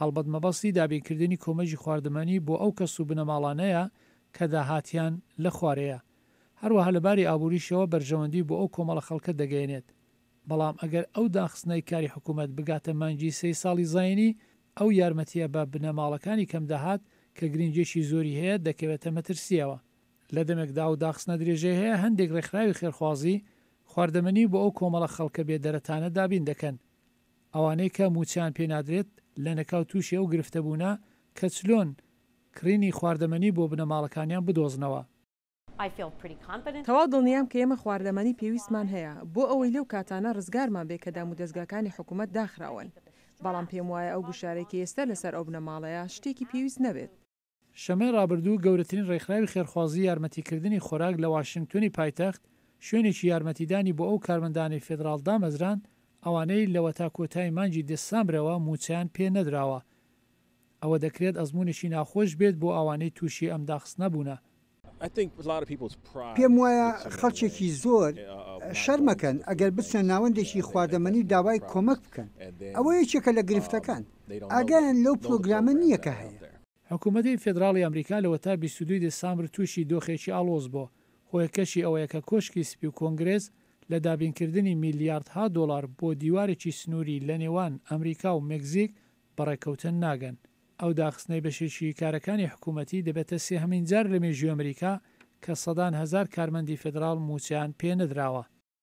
هەڵبەت مەبەستی دابینکردنی کۆمەکی خواردەمەنی بۆ ئەو کەس و بنەماڵانەیە کە داهاتیان لە خوارەیە. هەروەها لە باری ئابووریشەوە بەرژەوەندی بۆ ئەو کۆمەڵە خەڵکە دەگەیەنێت. بەڵام ئەگەر ئەو داخستنەی کاری حکوومەت بگاتە مانگی سێی ساڵی زایینی، ئەو یارمەتییە بە بنەماڵەکانی کەمداهات کە گرنگییەکی زۆری هەیە دەکەوێتە مەترسییەوە. لە دەمێکدا ئەو داخستنە درێژەی هەیە هەندێک ڕێکخراوی خێرخوازی، خواردەمەنی بۆ ئەو کۆمەڵە خەڵکە بێدەرەتانە دابین دەکەن. ئەوانەی کە مووچەیان پێ نادرێت لەنەکاو تووشی ئەو گرفتە بوونە کە چلۆن کڕینی خواردەمەنی بۆ بنەماڵەکانیان بدۆزنەوە. تەواو دڵنیام کە ئێمە خواردەمەنی پێویستمان هەیە بۆ ئەوەی لەو کاتانە ڕزگارمان بێت کە دامودەزگاکانی حکومەت داخراون، بەڵام پێموایە ئەو گوشارەی کە ئێستا لەسەر ئەو بنەماڵەیە شتێکی پێویست نەبێت. شەممەی ڕابردوو گەورەترین ڕێکخراوی خێرخوازی یارمەتیکردنی خۆراک لە واشنگتۆنی پایتەخت شوێنێکی یارمەتیدانی بۆ ئەو کارمەندانەی فێدراڵ دامەزراند ئەوانەی لەوەتا کۆتایی مانگی دسامبرەوە مووچەیان پێ نەدراوە ئەوە دەکرێت ئەزموونێکی ناخۆش بێت بۆ ئەوانەی تووشی ئەم داخستنە بوونە. پێم وایە خەڵکێکی زۆر شەرم ئەکەن ئەگەر بچنە ناوەندێکی خواردەمەنی و داوای کۆمەک بکەن، ئەوە یەکێکە لە گرفتەکان، ئاگایان لەو پرۆگرامە نییە کە هەیە. حکومەتی فیدراڵی ئەمریکا لەوەتا بیست و دوو دێسامبر تووشی دۆخێکی ئاڵۆز بۆ، هۆیەکەشی ئەوەیە کە کۆشکی سپی و کۆنگرێس لە دابینکردنی میلیاردها دۆڵار بۆ دیوارێکی سنووری لەنێوان ئەمریکا و مێکزیک بەڕێکەوتن ناگەن. ئەو داخستنەی بەشێکی کارەکانی حکوومەتی دەبێتە سێهەمین جار لە مێژووی ئەمریکا کە سەدان هەزار کارمەندی فیدراڵ مووچەیان پێ نەدراوە.